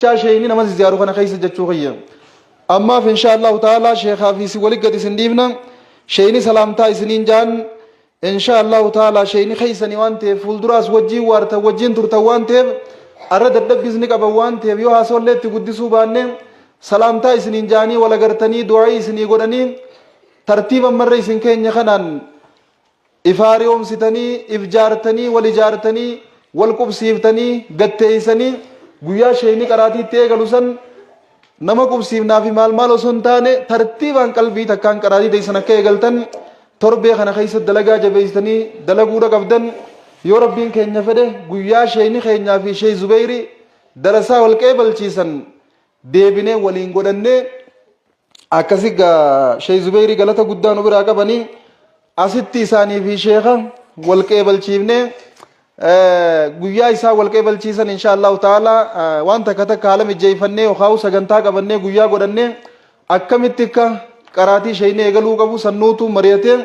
Jechaa sheeyni nama zizziyaaru kana keessa jechuu kiyya. Ammaaf inshaa Allahu ta'ala sheekaa fi isin walitti gad isin dhiifna. Sheeyni salaamtaa isiniin jaan. Inshaa Allahu ta'ala sheeyni keessanii waan ta'eef fuulduraas wajjiin waartan wajjiin turtan waan ta'eef arra dadhabbiis ni qaban waan ta'eef yoo haasawallee itti guddisuu baanne salaamtaa isiniin jaanii wal agartanii du'aa'ii isinii godhanii tartiiba marra isin keenya kanaan If haari'oomsitanii, if jaartanii, wal ijaartanii, wal qubsiiftanii, gad teessanii guyyaa sheeyni qaraatii itti eegalu san nama qubsiifnaa fi maal maal osoo hin taane tartiibaan qalbii takkaan qaraatii teessan akka eegaltan torbee kana keessa dalagaa jabeessitanii dalaguudha qabdan yoo rabbiin keenya fedhe guyyaa sheeyni keenyaa fi sheey zubeeyri darasaa wal qeebalchiisan deebinee waliin godhannee akkasi gaa shee zubeyrii galata guddaa nu biraa qabani asitti isaanii fi sheeka wal qeebalchiifne eh, guyyaa isaa wal qeebalchiisan insha allahu ta'ala eh, waan takka takka haala mijjeeffannee yookaan sagantaa qabannee guyyaa godhannee akkamitti akka qaraatii sheeynee eegaluu qabu sannuutu mari'atee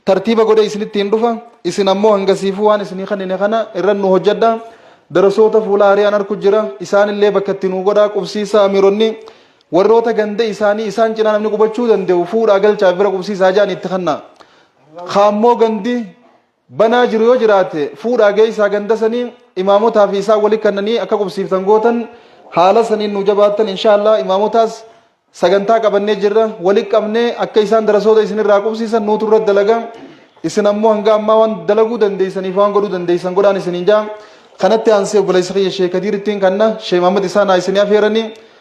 tartiiba godhe isinitti hin dhufa isin ammoo hangasiifuu waan isinii kannine kana irra nu hojjedha darasoota fuula ari'aan arku jira isaanillee bakka itti nu godhaa qubsiisa amiironni Warroota ganda isaanii isaan cinaa namni qubachuu danda'u fuudhaa galchaa bira qubsiisaa jedhanii itti kennaa. Kaammoo gandi banaa jiru yoo jiraate fuudhaa geessaa ganda sanii imaamotaa fi isaan walitti kennanii akka qubsiiftan gootan haala saniin nu jabaattan inshaallah imaamotaas sagantaa qabannee jirra walitti qabnee akka isaan darasoota isinirraa qubsiisan nuutu irra dalaga isin ammoo hanga ammaa waan dalaguu dandeessaniif waan godhuu dandeessan godhaan isiniin jaa kanatti aansee obboleessa kiyya sheekadiirittiin kanna sheemaamad isaan haa isinii afeeranii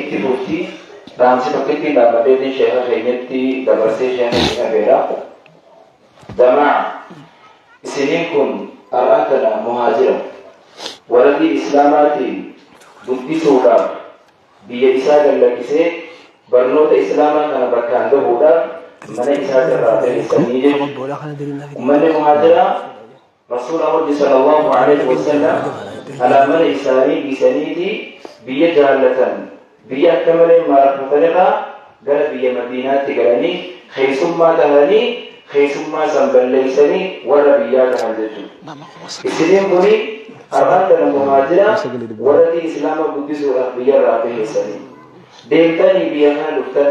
Itti fufti. Dhaamsi tokkittiin dhaammadheetiin sheeka keenyatti dabarsee sheeka itti dhabeera. Damaa isiniin kun har'aan tana muhaajira warra diin islaamaatiin guddisuudhaaf biyya isaa gad lakkisee barnoota islaamaa kana bakkaan gahuudhaaf mana isaatirraa bahessanii jechuudha. Ummanni muhaajiraa Rasuula Rabbi sallallahu aleyh wassalam alaa mana isaanii dhiisaniiti biyya jaallatan biyya akka malee maarratan irraa gara biyya Madiinaatti galanii keessummaa tahanii keessummaa san balleeysanii warra biyyaa tahan jechuudha. Isiniin kuni har'aan kana muhaajira warra islaama guddisuudhaaf biyyarraa baheessanii deemtanii biyya kana dhuftan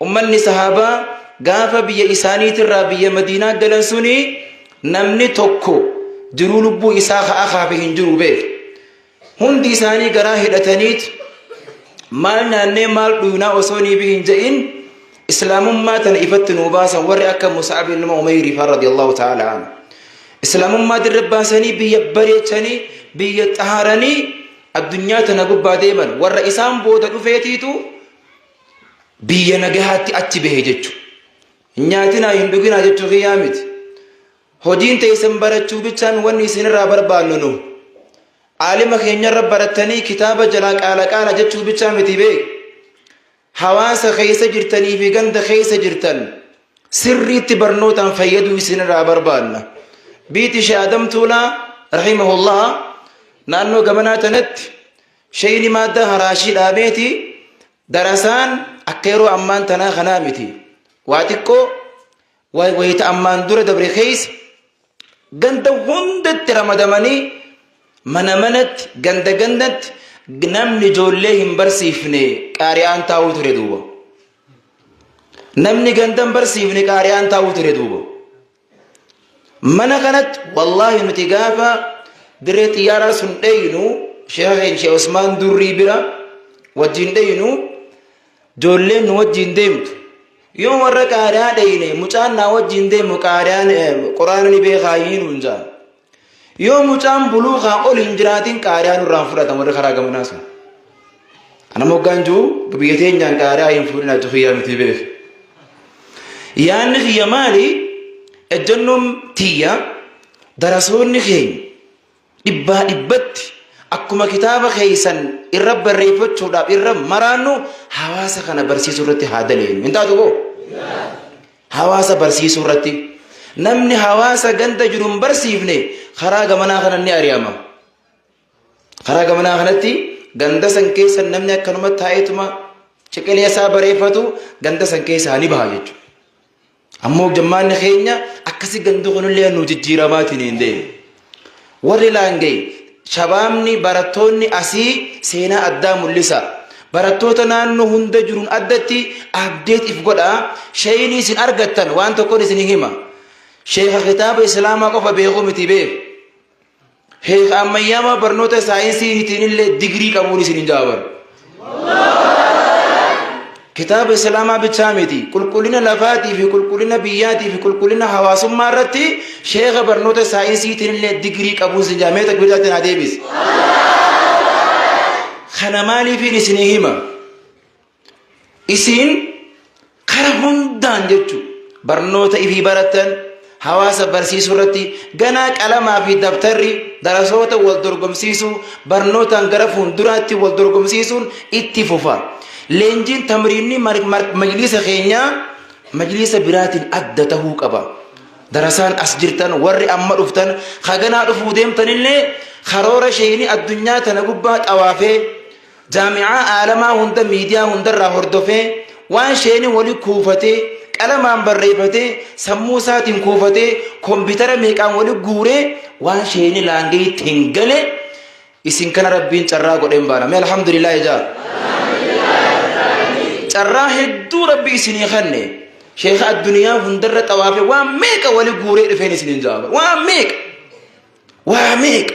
Ummanni sahaabaa gaafa biyya isaaniitirraa biyya Madiinaa galan suni namni tokko jiruu lubbuu isaa ka'aa kaafe hin jiru beeku. Hundi isaanii garaa hidhataniit maal nyaannee maal dhuunaa osoo nii hin ja'in islaamummaa tana ifatti nuu baasan warri akka Musa'ab ilma Umayrii fa'aa radiyallahu ta'ala anhu. Islaamummaa dirra baasanii biyya bareechanii biyya xaharanii addunyaa tana gubbaa deeman warra isaan booda dhufeetiitu Biyya nagahaatti achi bahe jechu. Nyaatinaa hin dhuginaa jechuu kiyyaa miti. Hojiin teessan barachuu bichaan wanni isinirraa barbaannu nu. Aalima keenyarra barattanii kitaaba jalaa qaala qaala jechuu bichaa miti beek. Hawaasa keessa jirtanii fi ganda keessa jirtan sirriitti barnootaan fayyaduu isinirraa barbaanna. Biiti Sheekh Adam Tuulaa rahimahullaha naannoo gamanaa tanatti Sheyni maadda haraashii dhaabeeti darasaan akka yeroo ammaan tanaa kanaa miti. Waa xiqqoo wa- wayita ammaan dura dabre keessa ganda hundatti ramadamanii mana manatti ganda gandatti namni ijoollee hin barsiifne qaari'aan taa'uu ture duuba. Namni ganda hin barsiifne qaari'aan taa'uu ture duuba. mana kanatti wallaahi nuti gaafa dirree xiyyaaraa sun dheeynu sheeka keenya sheekh Usmaan durrii bira wajjin dheeynu ijoolleen nu wajjin deemtu yoo warra qaadaa dheeyne mucaan naa wajjin deemu qaadaan quraana ni beekaa hin hundaa Yoo mucaan buluuqaa ol hin jiraatin qaariyaa nurraa hin fudhatan warri karaa gamanaa sun. Ana moggaan jiru biyya teenyaan qaariyaa hin fuudhinaa jiru kiyyaa miti beef. Yaanni kiyya maali? Ejjennoon tiyya darasoonni keenya dhibbaa dhibbatti akkuma kitaaba keessan irra barreeffachuudhaaf irra maraannu hawaasa kana barsiisuu irratti haa daleenyu. Hin taatu boo? Hawaasa barsiisuu irratti namni hawaasa ganda jiru hin barsiifne karaa gamanaa kanan ni ari'ama. Karaa gamanaa kanatti ganda san keessa namni akkanuma taa'eetuma ciqilee isaa bareeffatu ganda san keessaa ni baha jechuudha. Ammoo jammaanni keenya akkasi gandu kunillee nu jijjiiramaatiin hin deemu. Warri Laangee, Shabaabni barattoonni asii seenaa addaa mul'isaa. Barattoota naannoo hunda jiruun addatti update if godhaa. Shayni isin argattan waan tokkon isin hima. Sheeka kitaaba Islaamaa qofa beeku miti beeku. Sheeka ammayyaamaa barnoota saayinsiitiin illee digirii qabuun isin hin jaabaru. kitaaba islaamaa bichaa miti qulqullina lafaatii fi qulqullina biyyaatii fi qulqullina hawaasummaa irratti sheeka barnoota saayinsiitiin illee digirii qabuun sin jaamee takbiiraatiin haa deebisi. Kana maaliifiin isinii hima? Isin Kara hundaan jechu barnoota ifii baratan hawaasa barsiisuu irratti ganaa qalamaa fi dabtarri darasoota wal dorgomsiisuu barnootaan gara fuulduraatti wal dorgomsiisuun itti fufa. Leenjiin tamriinni majliisa keenyaa majliisa biraatiin adda tahuu qaba. Darasaan as jirtan warri amma dhuftan haganaa dhufuu deemtanillee karoora sheeyni addunyaa tana gubbaa xawaafee Jaami'aa aalamaa hunda miidiyaa hundarraa hordofee waan sheeni wali kuufatee qalamaan barreeffatee sammuu isaatiin kuufatee kombitara meeqaan wali guuree waan sheeni laangee itti hin gale isin kana rabbiin carraa godheen baana mee alhamdulillah ijaa carraa hedduu rabbi isinii kenne sheeka addunyaa hundarra xawaafe waan meeqa wali guuree dhufeen isiniin jaaba waan meeqa waa meeqa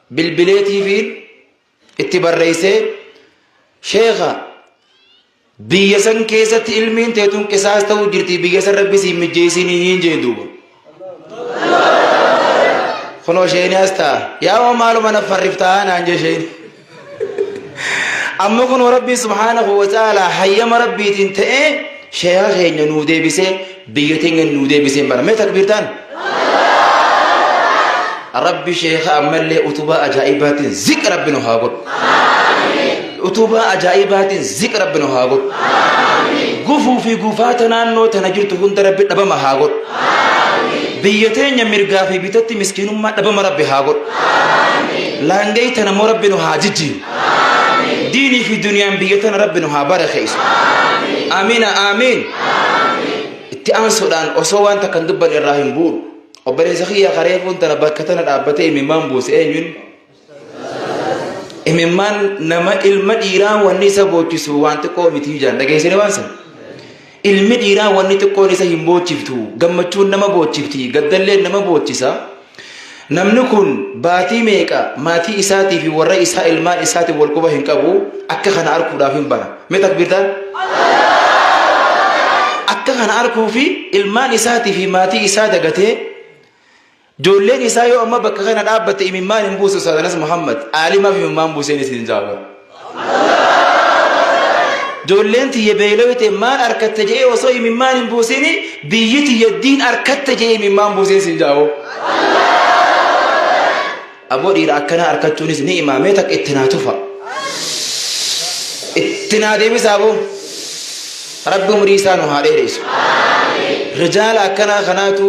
bilbileetiifiin itti barreessee sheekha biyya san keessatti ilmiin teetun qisaas ta'uu jirti biyya san rabbi siin mijjeessinii hin jeen duuba kunoo sheeni as ta'a yaa'oo maaluma na farriftaa naan jee sheeni amma kunoo rabbii subhaanahu wa ta'aalaa hayyama rabbiitiin ta'ee sheekha keenya nuu deebisee biyya teenya nuu deebiseen bara mee takbiirtaan rabbi sheekha ammallee utubaa ajaa'ibaatiin ziq rabbi nu haa godhu utubaa ajaa'ibaatiin ziq rabbi nu haa godhu gufuu fi gufaata naannoo tana jirtu hunda rabbi dhabama haa godhu biyya teenya mirgaa fi bitatti miskiinummaa dhabama rabbi haa godhu laangee tana immoo rabbi nu haa jijjiiru diinii fi duniyaan biyya tana rabbi nu haa barakeessu amiina aamiin itti aansuudhaan osoo waan takka hin dubbanne irraa hin bu'u obboleessa kiyya karee kun tana bakka tana dhaabbatee imimmaan buuse eenyuun imimmaan nama ilma dhiiraa wanni isa boochisu waan xiqqoo miti ijaan dhageessine waan sana Ilmi dhiiraa wanni xiqqoon isa hin boochiftu, gammachuun nama boochifti, gaddalleen nama boochisa. Namni kun baatii meeqa maatii isaatii fi warra isaa ilmaan isaatiin wal quba hin qabu, akka kana arkuudhaaf hin bara. Mee takbiirtaan? Akka kana arkuu fi ilmaan isaatii fi maatii isaa dagatee Ijoolleen isaa yoo amma bakka kana dhaabbatte imimmaan hin buusu Ustaaz Anas Muhammad aalimaaf imimmaan buuseen isin jaabara. Ijoolleen tiyya beelawite maal arkatte jedhee osoo imimmaan hin buusin biyyi tiyya diin arkatte jedhee imimmaan buuseen isin jaaboo. Aboo dhiira akkanaa arkachuunis ni imaamee takka itti naa tufa. Itti naa deebisaa boo. Rabbi umrii isaa nu haa dheeressu. Rijaala akkanaa kanaatu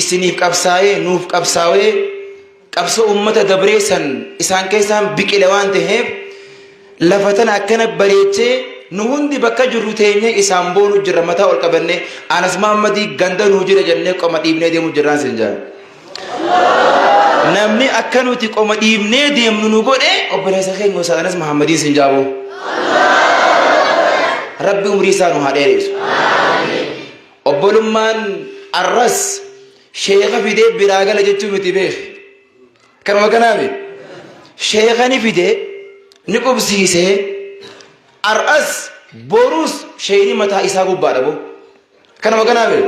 isiniif qabsaa'ee nuuf qabsaawee qabsoo uummata dabree san isaan keessaan biqile waan ta'eef lafa tana akkana bareechee nu hundi bakka jirru teenyee isaan boonu jirra mataa ol qabannee anas maammadii ganda nuu jira jennee qoma dhiibnee deemu jirraan sin jaa namni akka nuti qoma dhiibnee deemnu nu godhe obboleessa keenya Ustaaz Anas Mahammadiin sin jaaboo rabbi umrii isaa nu haa dheereessu. Obbolummaan arras sheeka fidee biraa gala jechuu miti beeki. Kanuma kanaami. Sheeka ni fidee ni qubsiisee arras boruus sheeyni mataa isaa gubbaadha boo. Kanuma kanaami.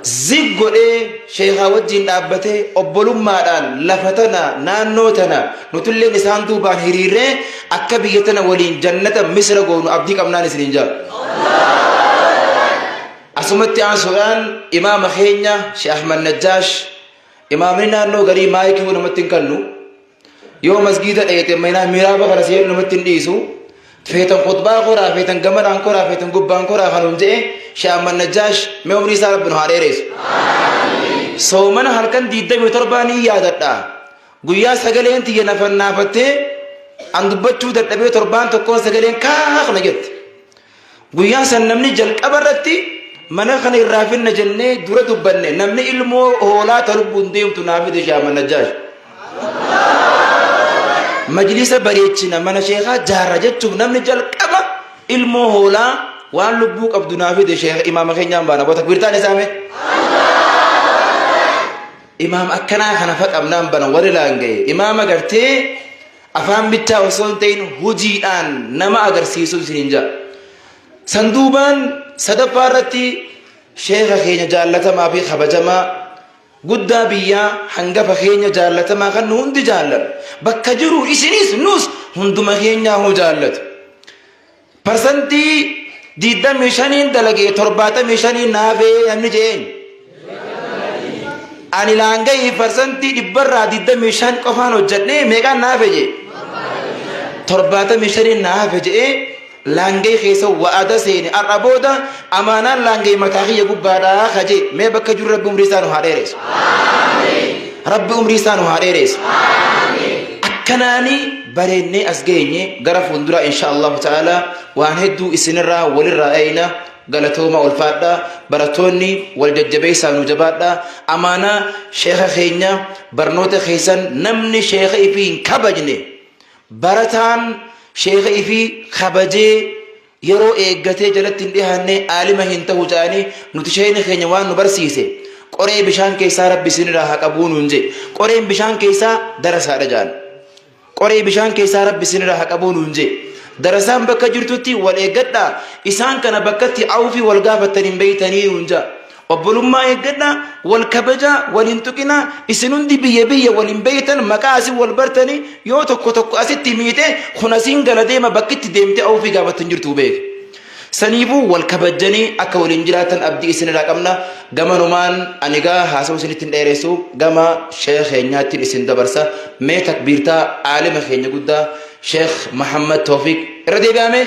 Zig godhee sheekaa wajjin dhaabbatee obbolummaadhaan lafa tana naannoo tana nutilleen isaan duubaan hiriirree Akka biyya tana waliin jannata misra goonu abdii qabnaan isiniin jaa. Asumatti aansuudhaan imaama keenya Sheikh Ahmad Najjaash imaamni naannoo garii maayikii namatti hin kannu yoo masgiida dheete manaa miraaba kana seenu namatti hin dhiisu feetan khutbaa koraa feetan gamanaan koraa feetan gubbaan koraa kan hin je'e Sheikh Ahmad Najjaash mee umrii isaa rabbi nu haa dheereessu. Soomana halkan 27 ni yaadadha. Guyyaa sagaleen tiyya na fannaafattee an dubbachuu dadhabee torbaan tokkoon sagaleen kaak na jette. Guyyaa san namni jalqaba irratti mana kana irraa finna jennee dura dubbanne namni ilmoo hoolaa ta lubbuun deemtu naa fide shaaman najjaash. Majlisa bareechina mana sheekaa jaarra jechuuf namni jalqaba ilmoo hoolaa waan lubbuu qabdu naa fide sheeka imaama keenyaan baana bota birtaan isaa mee. Imaama akkanaa kana fa qabnaan bana warri laanga'e imaama gartee afaan bichaa osoo hin ta'in hojiidhaan nama agarsiisu isin hin jaa. Sanduubaan sadaffaa irratti sheekha keenya jaallatamaa fi kabajamaa guddaa biyyaa hangafa keenya jaallatamaa kan nu hundi jaallatu bakka jiru isinis nus hunduma keenyaa hoo jaallatu. Parsantii 25n dalagee 75n naafee namni jeen. Ani laanga'ii parsantii dhibbarraa 25 qofaan hojjedhee meeqaan naafe jee. 75n naafe jee laanga'ii keessa wa'ada seeni har'a booda amaanaan laanga'ii mataa kiyya gubbaadhaa ka jee mee bakka jiru rabbi umrii isaa nu haa dheereessu. Rabbi umrii isaa nu haa dheereessu. Akkanaanii bareennee as geenye gara fuulduraa insha Allahu ta'ala waan hedduu isinirraa walirraa eeyna galatooma ulfaadha barattoonni wal jajjabeessaa nu jabaadha amaanaa sheeka keenya barnoota keessan namni sheeka ifii hin kabajne barataan sheeka ifii kabajee yeroo eeggatee jalatti hin dhihaanne aalima hin tahu ja'anii nuti sheeyni keenya waan nu barsiise qoree bishaan keessaa rabbi isinirraa haa qabuu nuun jee qoreen bishaan keessaa darasaadha ja'an qoree bishaan keessaa rabbi isinirraa haa qabuu nuun jee darasaan bakka jirtutti wal eeggadhaa isaan kana bakkatti awufi wal gaafattan hin beeytanii nuun ja'a Obbolummaa eeggadhaa, wal kabajaa, wal hin tuqinaa, isin hundi biyya biyya wal hin beektan, maqaa asin wal bartanii, yoo tokko tokko asitti miite, kun asiin gala deema bakkitti deemtee awufii gaafattu hin jirtu beeki. Saniifuu wal kabajjanii akka waliin jiraatan abdii isinirraa qabna. Gamanumaan ani gaa haasa'u isinitti hin dheeressu gama sheekh keenyaattiin isin dabarsa. Mee takbiirtaa aalima keenya guddaa sheekh Mahammad Toofiq irra deebi'amee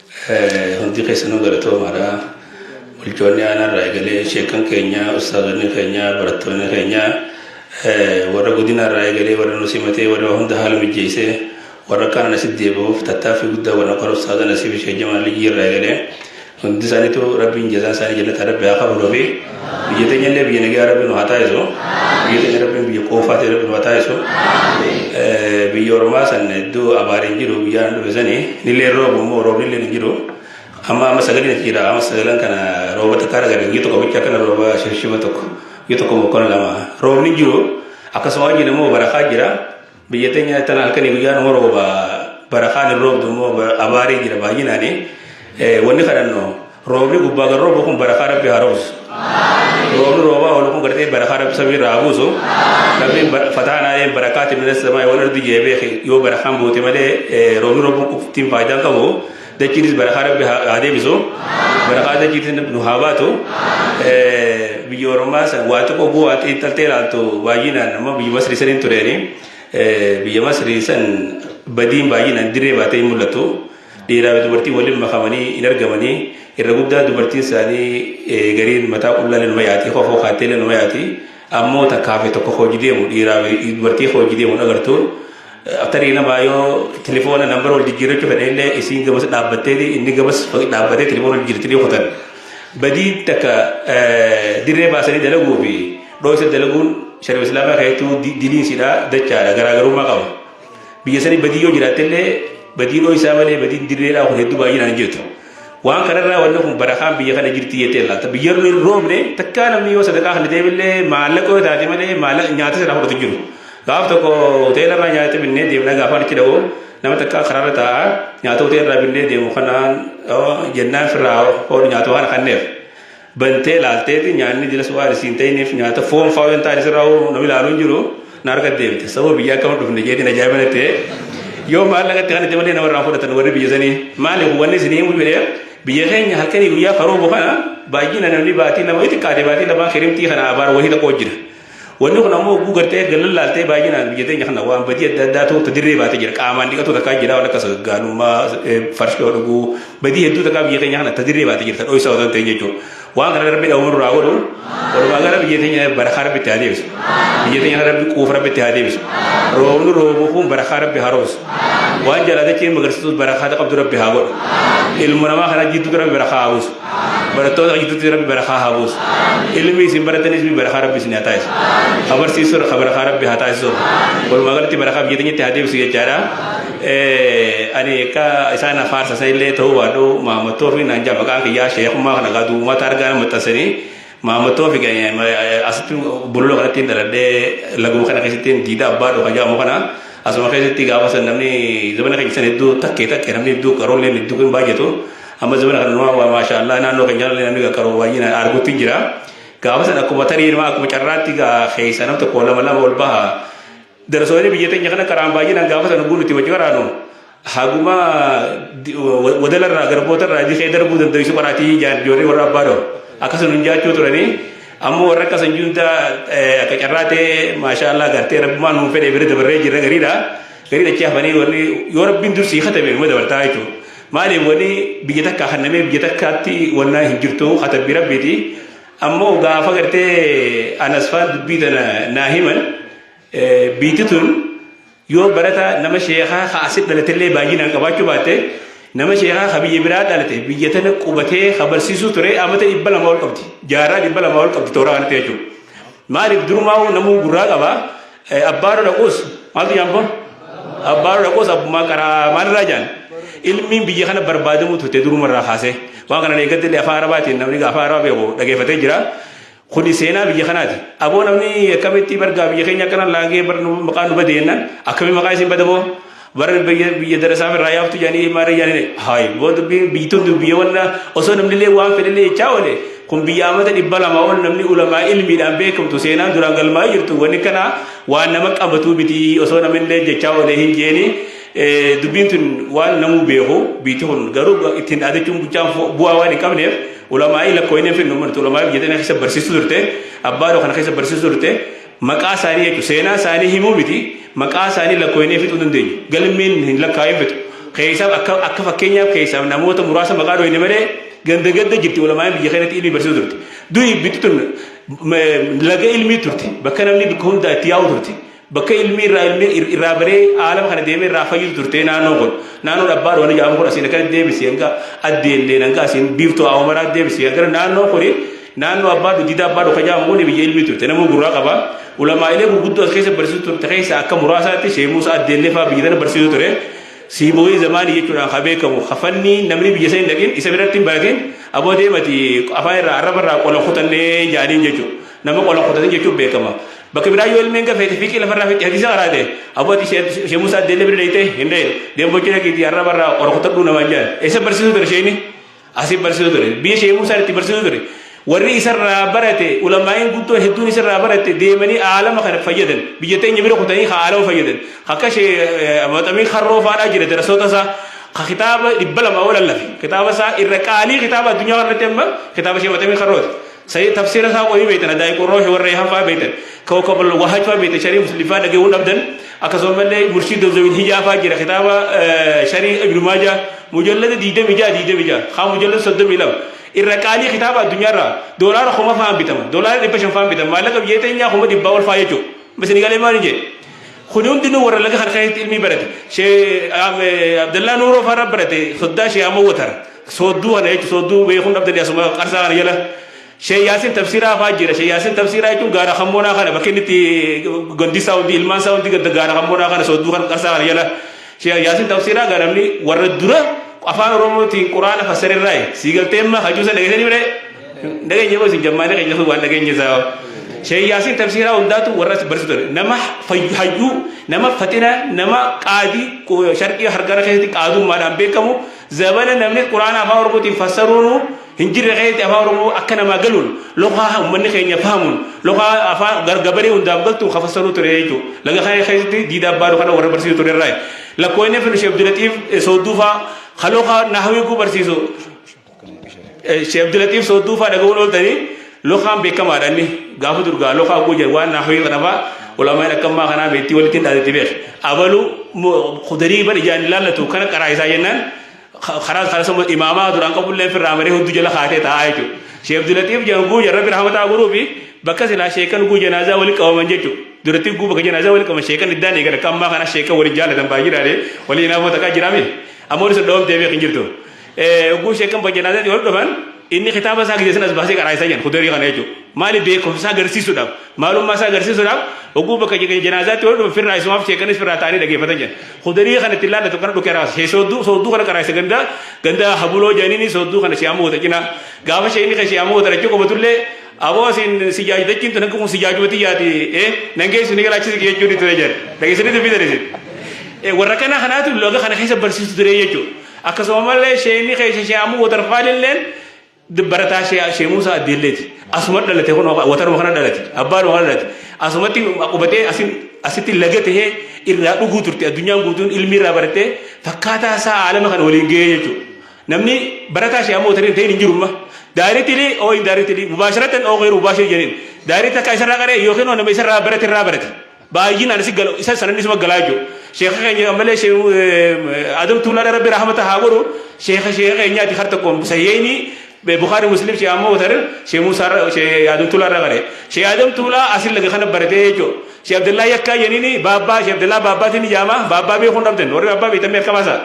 Hundi keessanuu galatoomaadha. Bulchoonni aanaa irraa eegalee sheekan keenya, ustaazonni keenya, barattoonni keenya warra godina irraa eegalee warra nu simatee warra hunda haala mijjeessee warra kaan asitti deebi'uuf tattaaffii guddaa warra qora ustaaza Nasiib Sheekh Jamaal Liyyii irraa eegalee hundi isaaniitu rabbiin jazaa isaanii jannata rabbi haa kafaluufi. Biyya teenya illee biyya nagaa rabbi nu haa taasisu. Biyya teenya rabbiin biyya qoofaa ta'e rabbi nu haa taasisu. Biyya ormaa san hedduu abaari hin jiru biyya dhufe sani nillee roobu immoo roobni illee hin jiru. Amma amma sagaleen achi jira amma sagaleen kana rooba takka argan biyya tokko bicha akkana rooba shirshima tokko biyya tokko mokkona lama roobni hin jiru akkasuma wajjin immoo barakaa jira. Biyya teenya tana halkanii guyyaan immoo rooba bara kaan hin roobdu immoo abaarii jira baay'inaani. Wanni kadhannu roobni gubbaa gara roobu kun bara kaan rabbi haa roobsu. Roobni roobaa oolu kun gartee bara kaan rabbi samii irraa haa buusu. Rabbiin fataanaa een barakaati minas samaa wal ardi jeebee yoo bara kaan buute malee roobni roobuun qoftiin faayidaan qabu. Dachiitis barakaa rabbi haa deebisu. Barakaa dachiitis nu haa baatu. Biyya Oromaa san waa xiqqoo guu waa xiinxaltee ilaaltu baay'inaan amma biyya Masrii saniin tureeni. Biyya Masrii san badiin baay'inaan dirree baatee hin mul'atu. Dhiiraa fi dubartiin waliin makamanii hin argamanii. Irra guddaa dubartiin isaanii gariin mataa qullaa ilma yaati. Kofoo kaattee ilma yaati. Ammoo takkaa fi tokko hojii deemu dhiiraa fi dubartii hojii deemu hin agartu. Tarii namaa yoo tilifoona nambara wal jijjiirrachuu fedhe illee isiin gabas dhaabbatteeti inni gabas dhaabbatee tilifoona wal jijjiirti ni kutan. Badii takka dirree baasanii dalaguu fi dhooysa dalaguun shari'a islaamaa keessattuu diliinsidha dachaadha garaagarummaa qaba. Biyya sanii badii yoo jiraatte illee badii dhooysaa malee badiin dirreedhaa kun hedduu baay'inaan hin jirtu. Waan kanarraa wanni kun barakaan biyya kana jirti jettee laata. Biyya irra hin roobne takkaa namni yoo sadaqaa kan deebillee maallaqa yoo taate malee maallaqa nyaata sana fudhatu jiru. Gaaf tokko hoteela irraa nyaata binnee deemna gaafaan itti dha'u nama takkaa karaarra taa'a nyaata hoteela irraa binnee deemu kanaan jennaan firraa hoodhu nyaata waan kanneef. bantee laalteeti nyaanni jilas waan isiin ta'iniif nyaata foon faa waan ta'an isirraa hoo namni ilaaluu hin jiru na arga deemte sababa biyya akka hin dhufne jeetiin ajaa'iba natti yoo maallaqa itti kanatti malee namarraa fudhatan warri biyya sanii maali wanni isin himu jedhee biyya keenya halkanii guyyaa karoobu kana baay'ina namni baatii lama itti qaadee baatii lamaa kirimtii kana abaar wahii tokko jira. Wanni kun ammoo oguu gartee gallan laaltee baay'inaan biyya teenya kana waan badii adda addaa ta'uutu dirree baatee jira. Qaamaan dhiqatu takkaa jira waan akka sagaggaalummaa, farshoo dhuguu, badii hedduu takkaa biyya keenya kana ta dirree baatee jirta dhoysaa otoo hin ta'in jechuudha. Waan kana rabbi dhawuu nurraa godhu walumaa gala biyya teenya barakaa rabbi itti haa deebisu. Biyya teenya kana rabbi quufa rabbi itti haa deebisu. Roobni roobu kun barakaa rabbi haa roobsu. Waan jalaatachee magarsiisus barakaa qabdu rabbi haa godhu. Ilmu namaa kana jidduutti rabbi barakaa haa buusu. barattoota hojjetutti rabbi barakaa haa buusu ilmi isin baratanis mi barakaa rabbi isin haa taasisu ha barsiisuu ha barakaa rabbi haa taasisu walumaa galatti barakaa biyya teenyatti haa deebisu jechaadha ani akka isaan afaarsa san illee ta'uu baadhu maamattoo fi naan jaamaqaan kiyyaa sheekummaa kana gaa duumaata argaa maxxansanii Maammoo Toofik asitti bulula kanatti hin dhaladhee laguma kana keessatti hin diida abbaa dhufa jaamu kana asuma keessatti gaafa san namni zabana keenya san hedduu takkee takkee namni hedduu qaroollee hedduu hin baay'atu amma zabana kana nama waa maashaa Allah naannoo keenya illee namni qaroo baay'ina arguutti hin jira gaafa san akkuma tarii nama akkuma carraatti gaa keessa nam tokko lama lama ol baha Darasooni biyya teenya kana qaraan baay'inaan gaafa sana buun itti wajji qaraanu haguma wadala irraa garboota irraa dikee darbuu dandeessu qaraatii ijoollee warra abbaa doo akkasuma hin jaachuu turanii ammoo warra akka sanjii hundaa akka carraa ta'e maashaa Allah gartee rabbumaan nuun fedhe bira dabarree jirra gariidha gariidha achi hafanii warri yoo rabbiin dursii katabe numa dabartaa jechuudha maaliif warri biyya takka hannamee biyya takkaatti wannaa hin jirtu katabbii rabbiiti Ammoo gaafa gartee Anasfaan dubbii tana naa himan biitti tun yoo barata nama sheekaa ka asit dhalatellee baay'inaan qabaachuu baatte nama sheekaa ka biyya biraa dhalate biyya tana qubatee ka barsiisuu ture amata dhibba lama ol qabdi jaarraa dhibba lama ol qabdi tooraa kanatti jechuudha. Maaliif durumaa namuu gurraa qaba Abbaaroo dhaquus maaltu jaan kun? Abbaaroo dhaquus abbummaa qaraa maalirraa jaan? Ilmiin biyya kana barbaadamuu turte durumarraa kaasee. Waan kana eeggatti illee afaan arabaatiin namni afaan arabaa beeku dhageeffatee jira. Kuni seenaa biyya kanaati. Aboo namni akkamitti bargaa biyya keenya akkana laagee maqaan nu bade jennaan akkamii maqaa isin bada boo? Warri biyya biyya darasaa irraa yaaftu jedhanii maara jedhanii haayi boo dubbii biyyituun dubbii wanna osoo namni illee waan fedhe illee jechaa oole kun biyya amata dhibba lama ol namni ulamaa ilmiidhaan beekamtu seenaan duraan galmaa'ee jirtu wanni kana waan nama qabatuu miti osoo namni illee jechaa oole hin jeeni dubbiin tun waan namuu beeku biyyiti kun garuu ittiin dhaadachuun buchaan bu'aa waan hin qabneef ulamaa'ii lakkooyinee finnu martu ulamaa'ii biyya tana keessa barsiisuu turte abbaadha kana keessa barsiisuu turte Maqaa isaanii jechuun seenaa isaanii himuu miti, maqaa isaanii lakkooynee fixuu hin dandeenyu. Galmeen hin lakkaa'in fixu. Keessaaf akka akka fakkeenyaaf keessaaf namoota muraasa maqaa dhooyne malee ganda ganda jirti ulamaa'in biyya keenyatti ilmii barsiisu turte. Du'i bitti tun laga ilmii turte. Bakka namni bakka hundaa itti yaa'u turte. Bakka ilmii irraa ilmii irraa baree aalama kana deemee irraa fayyutu turte naannoo kun. Naannoon abbaa dhoowanii jedhamu kun asiin akka deebisee hanga addeellee hanga asiin biiftuu awwaamaraa deebisee hanga naannoo kuni Naannoo Abbaa Dugdiidaa Abbaa Dhoka jedhamu kun biyya ilmii turte. Namuu gurraa qaba. Ulamaa'ilee gurguddoo as keessa barsiisu turte keessa akka muraasaatti Sheekh Muusaa Addeellee fa'aa biyya tana barsiisu ture. Siibooyii zamaanii jechuudhaan kan beekamu kafanni namni biyya sana hin dhaqin isa biratti hin baratin aboo deemati afaan irraa arraba irraa qola kutannee jedhaniin jechuudha. Nama qola kutatan jechuun beekama. Bakka biraa yoo ilmeen gafeete fiiqii lafarraa fiiqii hadiisa qaraate aboo ati Sheekh Muusaa Addeellee bira dheeyte hin dhee deembochina keetii arraba irraa qola kutadhuu namaan jedhan. Isa barsiisu ture sheekni. Asiin barsiisu ture. Biyya Sheekh Muusaan itti barsiisu ture. Warri isarraa barate ulamaa'iin guddoon hedduun isarraa baratte deemanii aalama kana fayyadan. Biyya teenya bira kutanii ka aalama fayyadan. Akka Sheekh Maxamii Karroo faadhaa jira darasoota isaa. Ka kitaaba dhibba lama ol allafe. Kitaaba isaa irra qaalii kitaaba addunyaa kanarratti amma kitaaba Sheekh Maxamii Karrooti. Sayyid tafsiira isaa qohii beektan adaa'i qurroohi warra eehan fa'aa beektan kawkab wahaaj fa'aa beektan sharii muslim fa'aa dhageewwan dhabdan akkasuma illee murshid dozawin hijaa fa'aa jira kitaaba sharii ibnu maajaa mujallada diidami ja'a diidami ja'a haa mujallada soddomi lama irra qaalii kitaaba addunyaarra doolaara kuma fa'aan bitama doolaara dhibba shan fa'aan bitama maallaqa biyya teenyaa kuma dhibbaa ol fa'aa jechuudha misini galee maal jedhe kuni hundinuu warra laga kan keessatti ilmii barate shee abdallaa nuuroo fa'aa barate soddaa shee amma watara Soodduu kana jechuun soodduu beekuun dhabdanii asuma qarsaa kana jala Sheek Yaasin Tafsiraa fa'aa jira. Sheek Yaasin Tafsiraa jechuun gaara Kammoonaa kana bakki inni itti gandi isaa hundi ilmaan isaa hundi ganda gaara Kammoonaa kana soodduu kana qarsaa kana jala Sheek Yaasin Tafsiraa gaa namni warra dura afaan Oromootiin Quraana fassare irraayi. Sii galtee immaa hajuu sana dhageessanii mire dhageenye moo isin jammaanii keenya sun waan dhageenye isaa hoo. Sheek Yaasin Tafsiraa hundaatu warra as barsiisu ture. Nama fayyu hayyuu nama faxina nama qaadii sharqii hargara keessatti qaadummaadhaan beekamu Zabana namni Qur'aana afaan Oromootiin fassaruunu hin jirre keessatti afaan Oromoo akka namaa galuun loqaa uummanni keenya fahamuun loqaa afaan gargabaree hundaaf galtu ka fassaruu ture jechuudha. Laga kana keessatti diida abbaadhu kana warra barsiisu ture irraa. Lakkoo inni fedhu Sheekh Abdulaxiif Soodduufaa ka loqaa naahawii guu barsiisu Sheekh Abdulaxiif Soodduufaa dhagahuun ooltanii Lokaan beekamaadha inni gaafa dur gaa lokaa oguu jedhu waan naafii kanafaa ulamaan akka ammaa kanaa beektii walitti hin dhaadatti beek abalu kudarii bar ijaan hin laallatu kana qaraa isaa jennaan karaa karaa sama imaamaa duraan qabullee firraa maree hudduu jala kaatee taa'aa jechuudha. Sheekh Abdulatiif jedhan guuja rabbi rahmataa godhuu fi bakka silaa sheekan guu janaazaa walitti qabaman jechuudha. Duratti guu bakka janaazaa walitti qabaman sheekan iddaan eegan akka ammaa kana sheekan waliin jaalatan baay'ee jiraate waliin naafoo takkaa jiraame amma waliin sun dhawamtee beekan jirtu. Yogguu sheekan bajjanaatatti wal dhufan inni kitaaba isaa gidee sanas baasee qaraa isaa jedhan kudarii kana jechuudha. Maali beekumsa isaa agarsiisuudhaaf maalummaa isaa agarsiisuudhaaf yogguu bakka janaazaatti wal dhufan firraa isumaaf sheekanis firraa ta'anii dhageeffatan jedhan. Kudarii kana itti laallatu kana dhukee raasa. Shee soodduu soodduu kana qaraa isa gandaa gandaa habuloo jedhaniini soodduu kana shee ammoo cinaa. Gaafa shee inni kan shee ammoo dhalachuu qabatullee aboo siin si jaajudachiin tun hanqaquun si jaajubatii yaati ee nan geessu ni galaachisi jechuun itti jedhan. Dhageessanii dubbii tadeessin. Warra kana kanaatu loga kana keessa barsiisu ture jechuudha. Akkasuma mallee sheeyni keessa shee amuu watarfaalilleen barataa shee shee muusaa addeelleeti. Asuma dhalate kun wataruma kana dhalate abbaanuma kana dhalate asumatti qubatee asin asitti laga tahee irraa dhuguu turte addunyaan guutuun ilmi irraa baratee fakkaataa isaa aalama kana waliin gahee jechuudha. Namni barataa shee amuu watariin ta'in hin jiru amma. Daaritili oo hin daaritili mubaasharatan oo gheeru mubaashir jedheen. Daarita akka isarraa qaree yookiin nama isarraa barate irraa barate. Baay'inaan isin gala isa sanan isuma galaa jiru. Sheekha keenya ammalee Sheekh Adam Tuulaadha Rabbi rahmata haa godhu. Sheekha sheekha keenyaati har tokkoon Sahiheeyni Bukhaari Muslim Sheekh Ammoo Watar Sheekh Muusaa irra Sheekh Adam Tuulaa irra gale. Sheekh Adam Tuulaa asin laga kana baratee jechuudha. Sheekh Abdallaa Yakkaa jeniini Baabbaa Sheekh Abdallaa Baabbaatiin ni jaama Baabbaa beekuun dhabdan warri Baabbaa beektan mee harka baasaa.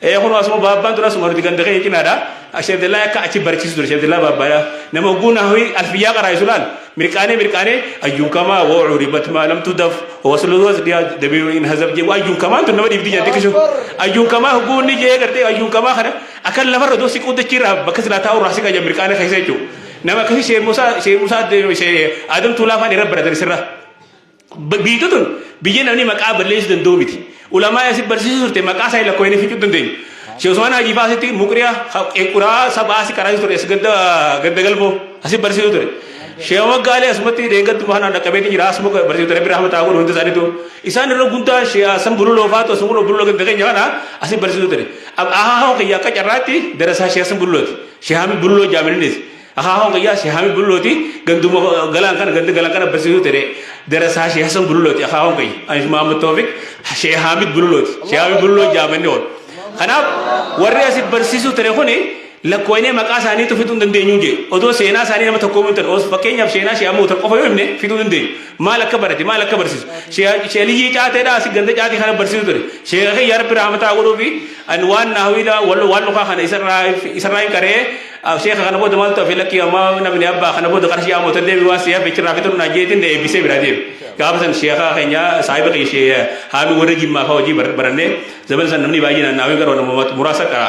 Ee kunoo asuma baabbaan tura asuma nuti ganda keenya cinaadha. Sheekh Abdallaa akka achi barichiisu ture Sheekh Abdallaa baabbaadha. Nama hogguu nahawii alfiyyaa qaraa'isu laal mirqaanee mirqaanee ayyuun kamaa woo curibat maa lam tudaf waslu wasdiyaa dabiiru in hazab jee ayyuun kamaan tun nama dhiibdi jee xiqqishu ayyuun kamaa hogguu inni jee gartee ayyuun kamaa kana akka lafarra doo siquu dachiirraa bakka silaa taa'u irraa siqa jee mirqaanee keessa jechuudha. Nama akkasii Sheekh Musaa Sheekh Musaa Sheekh Adam Tuulaa fa'aa irra baratan sirraa. Biyyiti tun biyya namni maqaa balleessu danda'u miti. Ulamaa asi barsiisu turte maqaa isaa lakko hin ficuu dandeenyu. Sheekh Usmaan Haajii fa'aa asitti muqriya qequraa saba asi karaa ture as gadda gadda galboo asi barsiisu ture. Sheekh Maggaalee asumatti deeggaddu maanaan dhaqqabeeti jira asuma barsiisu ture birraa mataa godhu hundi isaaniitu. Isaan irra guddaa Sheekh San Bululoo fa'aatu asuma godhu Bululoo gadda keenya kana asi barsiisu ture. Ahaa hoo kiyya akka carraatti darasaa Sheekh San Bululooti. Sheekh Hamid Bululoo jaamilinis. Akaakuun kiyyaa Sheikh Hamid Bullooti ganduma galaan kana ganda galaan kana barsiisuu ture darasaa Sheikh Hassan Bullooti akaakuun kiyya Anis Mahammad Toofiq Sheikh Hamid Bullooti Sheikh Hamid Bulloo jaamanni kun kanaaf warri asi barsiisuu ture kuni lakkoofnee maqaa isaaniitu fiduu hin dandeenyu jee odoo seenaa isaanii nama tokkoo hin ta'e fakkeenyaaf seenaa Sheikh Hamid qofa yoo himne fiduu hin dandeenyu maal akka barate maal akka barsiisu Sheikh Liyyii Caateedha asi ganda caatii kana barsiisuu ture Sheikh kiyya Rabbi rahmataa godhuufi ani waan naawidha waan lukaa kana isarraa isarraa hin qaree Aw sheekha kana booda maaltu hafe lakkii ammaa namni abbaa kana booda qarshii haamota deebi waan si hafe chirraa fixuun naan jeetiin na eebbisee biraa deebi. Gaafa san sheekha keenya saahiba kiyya shee haaluu warra jimmaa fa'aa hojii barannee zaman san namni baay'ee naannaawee gara nama muraasa qara.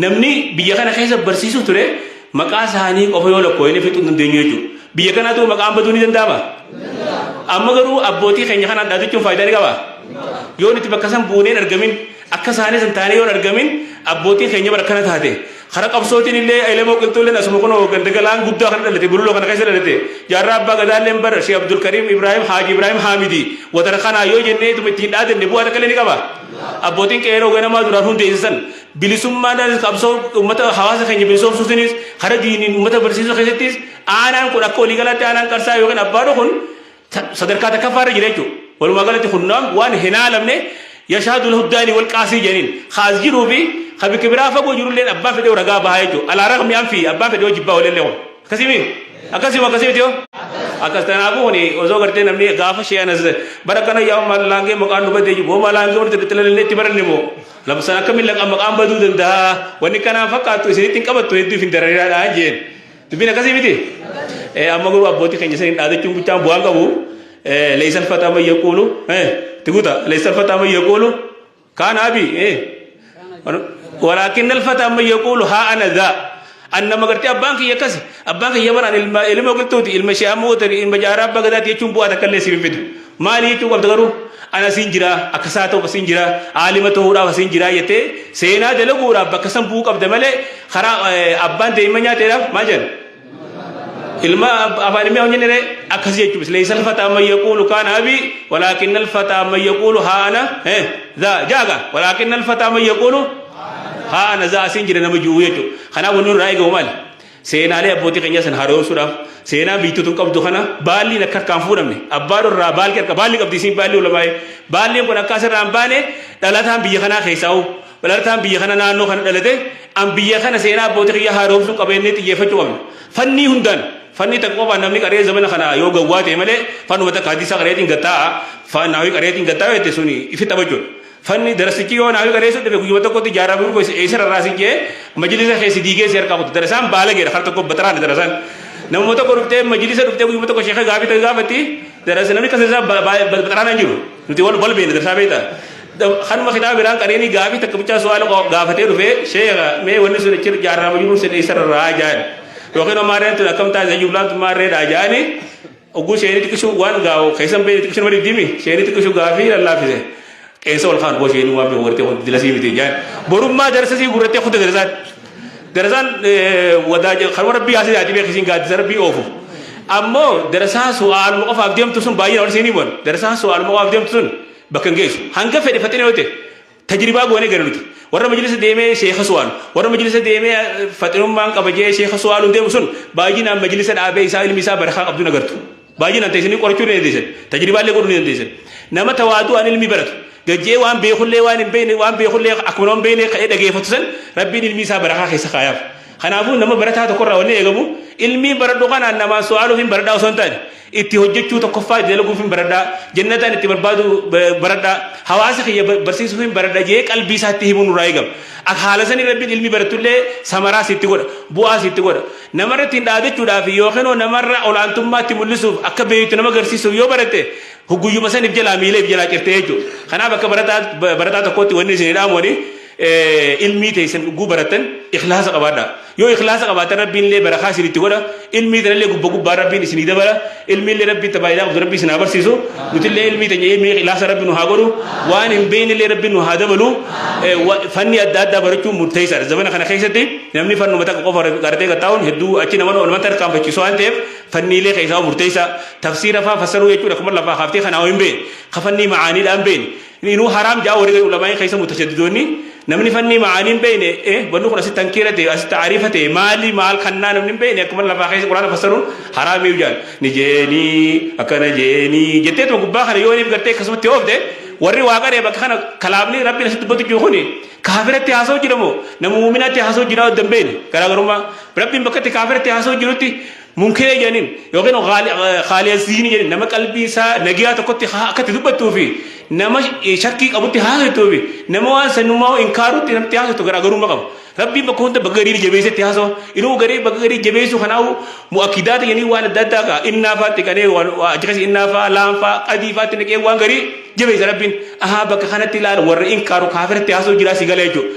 Namni biyya kana keessa barsiisuu ture maqaa isaanii qofa yoo lakkooyne fixuu hin dandeenyu jechuudha. Biyya kanaatu maqaan baduu ni danda'ama. Amma garuu abbootii keenya kana adda jechuun faayidaa ni qaba. Yoo nuti bakka san buuneen argamin akka isaanii san taanee yoo argamin abbootii keenya bara kana taate Kara qabsootiin illee Elemoo Qilxuulleen asuma kunoo ganda Galaan Guddaa kana dhalate, Bululoo kana keessa dhalate. Jaarraa Abbaa Gadaalleen bar Shee Abdulkariim Ibraahim Haaji Ibraahim Haamidi watara kanaa yoo jennee ituma itti hin dhaadanne bu'aa takka illee ni qabaa? Abbootiin Qeeroo Ganamaa duraan hundeesse san bilisummaadhaanis qabsoo ummata hawaasa keenya bilisoomsuutiinis kara diiniin ummata barsiisuu keessattis aanaan kun akka waliigalaatti aanaan Qarsaa yookiin Abbaadho kun sadarkaa takkaffaa irra jira jechuudha. Walumaa galatti kun waan hin haalamne yashaadu lahu daani wal qaasii jedhaniin kaas jiruu fi ka bikka biraa fagoo jirullee abbaa fedhee ragaa bahaa jechuudha. Alaa raqmi an fi abbaa fedhee jibbaa walillee kun. Akkasimi akkasima akkasimi tiyoo. Akkas kanaafuu kun osoo gartee namni gaafa shee anas bara kana yaa maal laangee maqaan nu badee jiru hoo maal laangee walitti bittalallee itti baranne moo labsan akkamiin laqaa maqaan baduu danda'a wanni kanaan fakkaatu isinitti hin qabattu hedduuf hin darariidhaa jeen. Dubbiin akkasii miti. Eh, Amma garuu abbootii keenya saniin dhaadachuun bichaan bu'aan qabu. Eh, Leeysan fataa man yaquulu. Eh, itti guuta. Leeysan fataa man yaquulu. Kaan abi. Eh. Walaakin alfataa man yaquulu haa ana zaa. An nama gartee abbaan kiyya akkasi. Abbaan kiyya baraan ilma ilma qilxuuti. Ilma shee amma ootari. Ilma jaaraa abbaa gadaati jechuun bu'aa takka illee siif hin fidu. Maali jechuu qabda garuu an asiin jira akka saa ta'uuf asiin jira aalima ta'uudhaaf asiin jira jettee seenaa dalaguudhaaf bakka san bu'uu qabda malee karaa abbaan daa'imman nyaateedhaaf maal jedhan ilma afaan ilmi hojjenne ree akkas jechuun islee isa alfataa amma yaquulu kaan abi walaakin alfataa amma yaquulu haana zaa jaaga walaakin alfataa amma yaquulu haana zaa asiin jira nama ji'uu jechuudha kanaaf wanni irraa eegamu maali Seenaalee abbootii keenyaa sana haaromsuudhaaf seenaa biyyittii tun qabdu kana baalliin akka harkaan fuudhamne abbaa dhorraa baalli harka baalli qabdi isiin baalli ulamaa'ee baalliin kun akka asirraa hin baane dhalataan biyya kanaa keessaa hoo dhalataan biyya kana naannoo kana dhalate an biyya kana seenaa abbootii kiyyaa haaromsuu qabeenyee xiyyeeffachuu qabna fannii hundaan fannii takka qofaan namni qaree zamana kana yoo gawwaa ta'e malee fannuma takka hadiisa qareetiin gattaa'a fannaawii qareetiin gattaa'a jette suni ifi taphachuudha. Fanni darasichi yoo naafii bareessuu dhabe guyyuma tokkotti jaarraa burqoo isa eessa rarraasin jee majlisa kee si diigee si harkaa kutu darasaan baalageedha kar tokko bataraadha darasaan namuma tokko dhuftee majlisa dhuftee guyyuma tokko sheeka gaafii ta'e gaafatti darasa namni kasa isaa bataraana hin jiru nuti wal wal beekna darasaa beekta kanuma kitaaba biraan qareenii gaafii takka bichaa su'aala gaafatee dhufee sheeka mee wanni sun achi jaarraa majluun sin eessa rarraa jaan yookiin ammaareen tun akkam taate jublaan tun maarreedhaa jaani Ogguu sheenii xiqqishu waan gaa'u keessa hin beekne xiqqishu nama diddiimi sheenii xiqqishu gaafii lallaafise qeensa ol kaan boo sheenii waan beeku gartee kun dilasii miti jaan borummaa darasa sii gurrattee kudda darasaan darasaan wadaa kanuma rabbii haasee yaadii beeku isiin gaaddisa rabbii oofu ammoo darasaa su'aaluma qofaaf deemtu sun baay'ee nama isiin himan darasaa su'aaluma qofaaf deemtu sun bakka hin geessu hanga fedhe faxina yoo ta'e Tajribaa goone gara nuti. Warra majlisa deemee sheekha su'aalu. Warra majlisa deemee eh, faxinummaan qaba jee sheekha su'aaluun deemu sun baay'inaan majlisa dhaabee isaa ilmi isaa barakaa qabdu hin agartu. Baay'inaan teessanii qorachuu ni dandeessan. Tajribaallee godhuu ni dandeessan. Nama tawaadu'aan ilmi baratu. Gajjee waan beekullee waan hin beekne waan beekullee akkuma nama hin beekne ka'ee dhageeffatu san rabbiin ilmi isaa barakaa keessa kaayaaf. Kanaafuu nama barataa tokkorraa wanni eegamu ilmii baradhu kanaan namaan su'aaluuf hin baradhaa osoo hin taane Itti hojjechuu tokkoffaa itti dalaguuf hin baradha. Jannataan itti barbaadu baradha. Hawaasa kiyya barsiisuuf hin baradha jee qalbii isaatti himuun nurraa eegama. Akka haala sanii rabbiin ilmi barattullee samaraa sitti godha. Bu'aa sitti godha. Namarra ittiin dhaadachuudhaaf yookiin hoo namarra olaantummaatti mul'isuuf akka beektu nama garsiisuuf yoo baratte hugguyyuma saniif jalaa miileef jalaa cirtee jechuudha. Kanaaf akka barataa barataa tokkootti wanni isin dhaamuu wani ilmii teessan dhugguu barattan ikhlaasa qabaadha yoo ikhlaasa qabaatan rabbiin illee barakaa isin itti godha ilmii tanallee gubba gubbaa rabbiin isinii dabala ilmii illee rabbiin tabaayidaa qabdu rabbii isin haa barsiisu nutillee ilmii teenya ilmii ikhlaasa rabbi nu haa godhu waan hin beekne illee rabbiin nu haa dabalu fanni adda addaa barachuun murteessaadha zamana kana keessatti namni fannuma takka qofa qaratee qaxxaa'uun hedduu achi nama olmatti harkaanfachiisu waan ta'eef fanniilee keessaa murteessaa tafsiira faa fassaruu jechuudha kuma lafaa kaaftee kanaa hin beekne kafannii macaaniidhaan beekne Inuu haraam ja'a warri gadi ulamaa'ii keessa mutashaddidoonni namni fannii ma'aanii hin beeyne eh banni kun asitti hankiira ta'e asitti aariifa ta'e maali maal kannaa namni hin beeyne akkuma lafaa keessa quraana fassaruun haraamiyu jaan ni jeenii akkana jeenii jetteetuma gubbaa kana yooniif gartee akkasumatti oofte warri waa qaree bakka kana kalaamni rabbiin asitti dubbatu jiru kuni kaafiratti haasoo jira moo nama muuminaatti haasoo jira odda hin beeyne garaagarummaa rabbiin bakkatti kaafiratti haasoo jirutti Munkiree jedhaniin yookiin khaaliyaziini jedhaniin nama qalbii isaa nagiyaa tokkotti akkatti dubbattuu fi nama shakkii qabutti haasoftuu fi nama waan sannumaa inkaarutti namatti haasoftu garaagarummaa qaba. Rabbiin bakka hunda bakka gariin jabeessetti haasawa. Inuu garee bakka gariin jabeessuu kanaa'u mu'akkidaata jedhanii waan adda addaa ka'a. Innaa faatti qanee achi keessa innaa faa laam faa adii faatti naqee waan garii jabeessa rabbiin. Ahaa bakka kanatti ilaala warra inkaaru kaafiratti haasoo jiraa si gala jechuudha.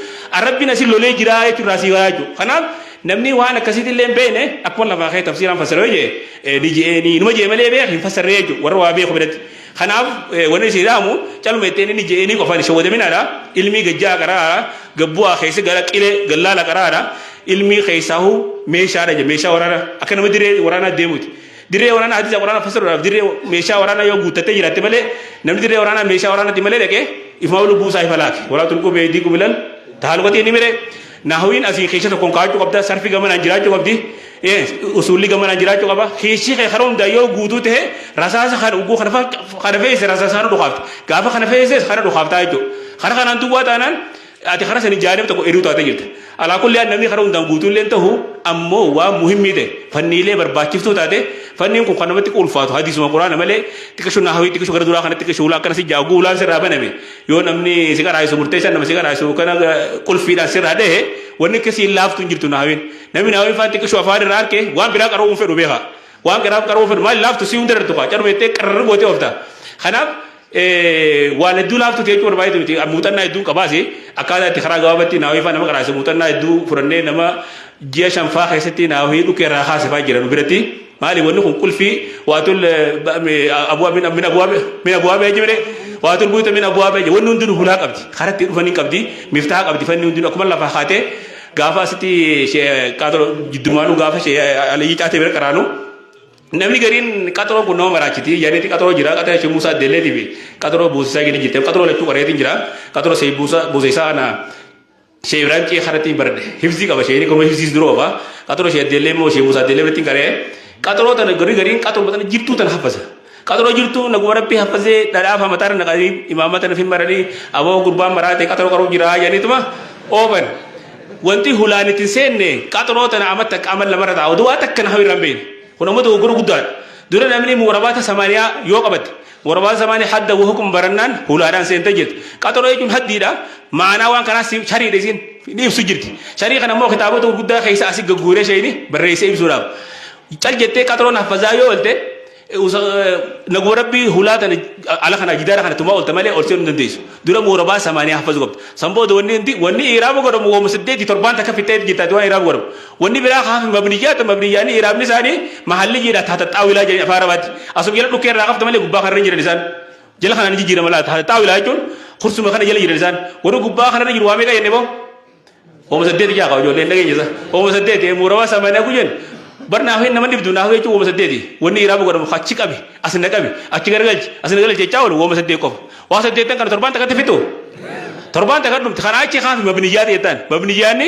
Rabbiin asii lolee jiraa jechuudha si gala jechuudha. Kanaaf Namni waan akkasiitti illee hin beekne akkuma lafaa kee tafsiiraan fassara yoo jee eh, ni je'ee ni numa jee malee beek hin fassarree jechuudha warra waa beeku biratti. Kanaaf eh, wanni isin dhaamu caluma ittiin inni je'ee ni qofaan shawwadaminaadha ilmii gajjaa qaraadha gabbu'aa keessa gara qilee gallaala qaraadha ilmii keessaahu meeshaadha jedha meeshaa waraanaa akka nama dirree waraanaa deemuuti. Dirree waraanaa hadiisa waraanaa fassaruudhaaf dirree meeshaa waraanaa yoo guuttattee jiraatte malee namni dirree waraanaa meeshaa waraanaatti malee dhaqee ifuma lubbuu isaa ifa laate. Walaa tulquu beeydii kubilal taaluqatii inni miree. Nahwiin asii keessa tokkoon kaa'achuu qabda, sarfi gamanaan jiraachuu qabdi, usuulli gamanaan jiraachuu qaba. Keessi kee kana hundaa yoo guutuu ta'e rasaasa kana ugguu kana kana fe'ise rasaasa kana dhukaafta. Gaafa kana fe'ises kana dhukaaftaa jechuudha. Kana kanaan duwwaa taanaan ati kana sanii jaanib tokko eduu taatee jirta. Alaa kulli yaa namni kana hundaan guutuu illee ta'u ammoo waan muhimmii ta'e fanniilee barbaachiftuu taate fanniin kun kan namatti ulfaatu hadiisuma quraana malee xiqqishu naahawii xiqqishu gara duraa kana xiqqishu ulaa akkana si jaa ugguu ulaan sirraa baname Yoo namni si qaraa'isu murteessan nama si qaraa'isu kana qulfiidhaan sirraa dhahe wanni akka siin laaftu hin jirtu naawiin. Namni naawiin faan xiqqishu afaan irraa harke waan biraa qara'uu hin fedhu beeka. Waan qaraaf qara'uu fedhu maal laaftu si hunda irratti kaa carma jettee qararri gootee oofta. Kanaaf waan hedduu laaftu ta'e jechuun baay'eetu miti muuxannaa hedduun qabaasi akkaataa itti karaa gabaabatti naawiin faan nama qaraa'isu muuxannaa hedduu fudhannee nama ji'a shan faa keessatti naa wahii dhukkee irraa kaase faa jira nu biratti maali wanni kun qulfii waatul abuwaa min min abuwaa min abuwaa bee jibire waatul buyuta min abuwaa bee wanni hundinuu hulaa qabdi karatti dhufan hin qabdi miftaa qabdi fanni hundinuu akkuma lafa kaate gaafa asitti qaatolo jiddumaanuu gaafa aliyyi caatee bira qaraanuu namni gariin qaxaroon kun nama maraachiti yaaniiti qaxaroo jira qaxara ishee muusaa deelleetii fi qaxaroo buusisaa gadi jirte qaxaroo lachuu qareetiin jira qaxaroo see buusa buusisaa ana Shee Ibrahim Cee Karatiin Barde Hifzii Qaba Shee Kono Hifziis Dura Ofa Qaxuro Shee Addeellee Moo Shee Musaa Addeellee Walittiin Qaree Qaxuro Tana Garii Gariin Qaxuro Tana Jirtuu Tana Haffasa Qaxuro Jirtuu Naguma Rabbii Haffasee Dhadhaa Fama Tana Naqanii Imaamma Tana Fin Maranii Aboo Gurbaan Maraatee Qaxuro Qaruu Jiraa Janiituma Oofan Wanti Hulaan Ittiin Seenne Qaxuro Tana Amma Takka Amma Lamarra Taa'u Duwaa Takka Nahawi Irraan Beeyne Kun Ammoo Dogoggora Guddaadha Dura Namni Muurabaata Samaaniyaa Yoo Qabatte Warabaa zamaanii hadda wa hukum barannaan hulaadhaan seentee jirti. Qaxaroo jechuun haddiidha. Maanaa waan kanaa si- shariidha isiin ni ibsu jirti. Sharii kana immoo kitaabota gurguddaa keessa asi gagguuree sheeyni barreessee ibsuudhaaf. Cal jettee qaxaroon haffazaa yoo oolte eh, usa- eh, naguma rabbii hulaa tana ala kana jidaara kana tumaa oolte malee ol seenuu hin dandeessu. Dura muurabaa samaanii haffazuu qabda. San booda wanni hundi wanni iraaba godhamu wooma saddeetii torbaan takka fixee jirtaati waan iraaba godhamu. Wanni biraa kaa fi mabniyyaa ta mabniyyaanii i'raabni isaanii mahalliyyiidha tahta xaawilaa jedhanii afaan arabaatti asuma jala dhukkee irraa qabda malee gubbaa kanarra hin jiran isaan jala kanaan ni jijjiirama laa tahta xaawilaa jechuun kursuma kana jala jiran isaan warri gubbaa kanarra jiru waa meeqa jenne boo hooma saddeeti jaa qaba ijoollee hin dhageenye isaa hooma saddeeti muuramaa samaanaa ku jennu bar naaf hin nama dhibdu naaf jechuun hooma saddeeti wanni i'raaba godhamu achi qabi as na qabi achi garagalchi as na galchi jechaa oolu hooma saddeet qofa waa saddeettan kana torbaan takkatti fixu torbaan takka dhumti kanaa achi kaa fi mabniyyaa ta'e ta'an mabniyyaanni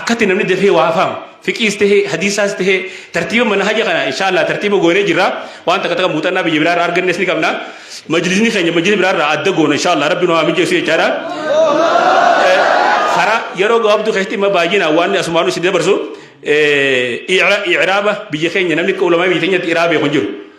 Akkatti namni dafee waa faamu fiqiis tahee hadiisaas tahee tartiiba manhaja kana inshaallah tartiiba goonee jirra waan takka takka muuxannaa biyya biraarraa argannes ni qabna majlisni keenya majlisa biraarraa adda goona inshaallah rabbi nu haa mijeessu jechaadha kara yeroo gabaabduu keessatti imma baay'inaan waan asumaanuu isin dabarsu icraaba biyya keenya namni akka ulamaa biyya keenyatti iraa beeku hin jiru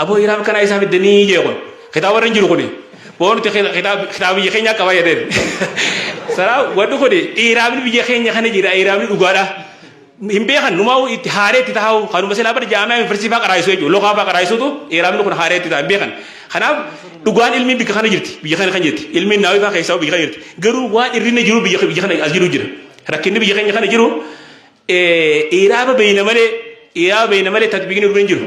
Aboo hiraa akkanaa isaa fidde nii jee kun. Kitaaba irra hin jiru kuni. Boo nuti kitaaba biyya keenyaa qaba jedheen. Saraa wadhu kuni dhiiraamni biyya keenya kana jira dhiiraamni dhugaadha. Hin beekan numaa itti haaree itti taa'u kanuma silaa bara jaamee yuunivarsiitii fa'aa qaraayisu jechuudha. Loqaa fa'aa qaraayisuutu dhiiraamni kun haaree itti taa'u hin beekan. Kanaaf dhugaan ilmi biyya kana jirti biyya kana kan jirti ilmi naawii fa'aa keessaa biyya kana jirti. Garuu waan irrinni jiru biyya biyya kana as jiru jira. Rakkinni biyya keenya kana jiru dhiiraama beeyna malee dhiiraama beeyna malee tatbiiqni irra hin jiru.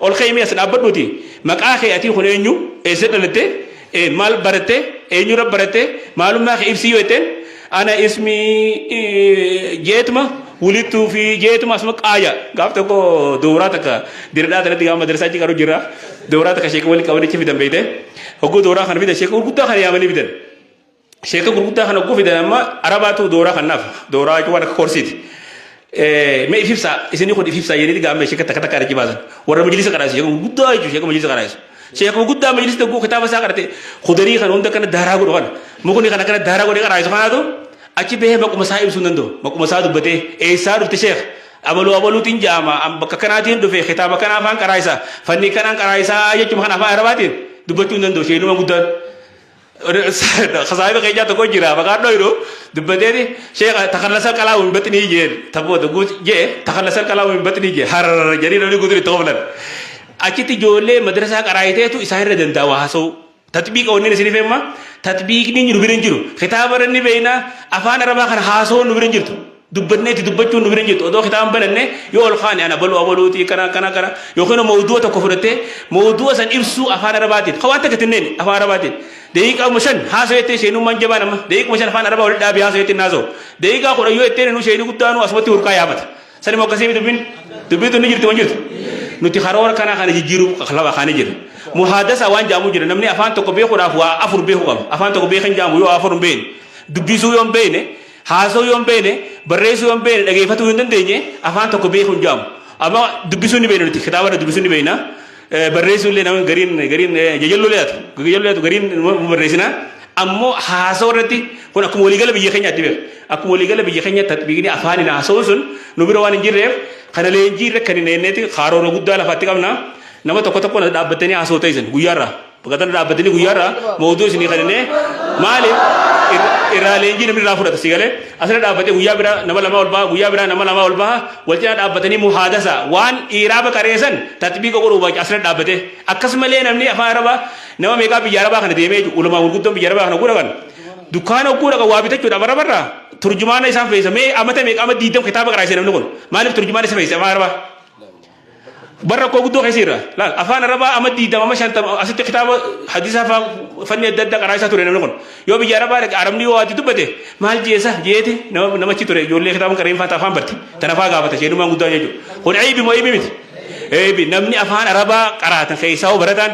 Ol ka'i mee as dhaabbadhuuti maqaa kee atii kun eenyu? Eessa dhalatte? Maal baratte? Eenyurra baratte? Maalummaa kee ibsii yoo jetteen ana ismi jeetuma wulittuu fi jeetuma asuma qaaya. Gaaf tokko dooraa takka diradhaa tanatti gaama madrasaa achi qaru jira. Dooraa takka sheeka waliin qabanicha fidan beeyte. Hogguu dooraa kana fidan sheeka gurguddaa kana yaamanii fidan. Sheeka gurguddaa kana ugguu fidan amma arabaatu dooraa kanaaf dooraa jechuun waan akka koorsiiti. Mee if ibsaa isinii kun if ibsaa jedhanii gaammee sheeka takka takka irratti baasan warra majlisa qaraase sheeka gurguddaa jechuun sheeka majlisa qaraase. Sheeka gurguddaa majlisa tokko kitaaba isaa qarate kudarii kana hunda kana daaraa godhu kana mukni kana kana daaraa godhee qaraase kanaatu achi bahee maquma isaa ibsuu hin danda'u maquma isaa dubbatee eessaa dhufte sheeka. Abaluu abaluutiin jaama bakka kanaatiin dhufe kitaaba kana afaan qaraasa fannii kanaan qaraasa jechuun kan afaan arabaatiin dubbachuu hin danda'u sheenuma guddaan. Kasaayiba keenyaa tokko jira maqaan dhoyru dubbateeti sheekha takallasa qalaa hin baxinii jeen tabboo tokko jee takallasa qalaa hin baxinii jee hararara jedhanii namni guutuun itti qoflan. Achitti ijoollee madrasaa qaraayiteetu isaan irra danda'a waa haasa'uu. Tatbiiqa wanneen isin ifeemma tatbiiqni jiru bira hin jiru. Kitaaba irra ni beekna afaan arabaa kan haasa'uun nu bira hin jirtu. dubbatneetti dubbachuun nu bira hin jirtu odoo kitaaba hin bananne yoo ol kaane ana baluu abaluuti kana kana kana yookiin immoo mawdu'a tokko fudhattee mawdu'a san ibsuu afaan arabaatiin ka waan takka tinneen afaan arabaatiin daqiiqaama shan haasoo jettee sheenummaan jabaan amma daqiiquma shan afaan arabaa walitti dhaabee haasoo jettee naasoo daqiiqaa kudha yoo jettee nu sheenii guddaanuu asumatti hurkaa yaafata sani moo akkasii dubbiin dubbiitu ni jirti wan jirtu nuti karoora kanaa kana jijjiiruu lafa kaanii jira muhaadasa waan jaamu jira namni afaan tokko beekuudhaaf waa afur beeku qaba afaan tokko beekan jaamu yoo afur hin beekne dubbisuu yoo hin beekne Haasa'uu yoo hin beekne, barreessuu yoo hin beekne, dhageeffatuu yoo hin dandeenye afaan tokko beekuu hin jedhamu. Amma dubbisuu ni beekna nuti kitaaba irra dubbisuu ni beekna. Barreessuu illee namni gariin gariin jajalloo illee taatu jajalloo taatu gariin nu barreessina. Ammoo haasa'uu irratti kun akkuma waliigala biyya keenyaatti beeku. Akkuma waliigala biyya keenyaatti tatbiiqni afaaniin haasa'uun sun nu bira waan hin jirreef kana leenjii irra kan hin eenneeti karoora guddaa lafaatti qabna. Nama tokko tokko dhaabbattanii haasa'u ta'isan guyyaarraa. Baqatana dhaabbatanii guyyaarraa mooduu isinii kaninee maali irraa leenjii namni irraa fudhata si galee asirra dhaabbatee guyyaa biraa nama lamaa ol baha guyyaa biraa nama lamaa ol baha wal cinaa dhaabbatanii muhaadasa waan dhiiraa baqareessan tatbiiqa godhuu baay'ee asirra dhaabbatee akkasumallee namni afaan arabaa nama meeqaa biyya arabaa kana deemee jiru ulamaa gurguddoon biyya arabaa kana gudhagan dukkaana oguu dhaqa waa bitachuudhaaf arabarraa turjumaana isaan feessa mee amata meeqa amma diidam kitaaba qaraasee namni kun maaliif turjumaana isa feessa afaan arabaa Bar rakkoo guddoo keessa jira. Laal afaan arabaa amma diidama amma shantama asitti kitaaba hadisaa faa fanni adda addaa qaraasaa ture namni kun. Yoo biyya arabaa dhaqe arabni yoo waati dubbate maal jeesa jeeti nama namachi ture ijoollee kitaaba qareen faa afaan barte tana faa gaafata sheenumaan guddaa jechuudha. Kun eebi moo eebi miti? Eebi namni afaan arabaa qaraatan keessaa hoo barataan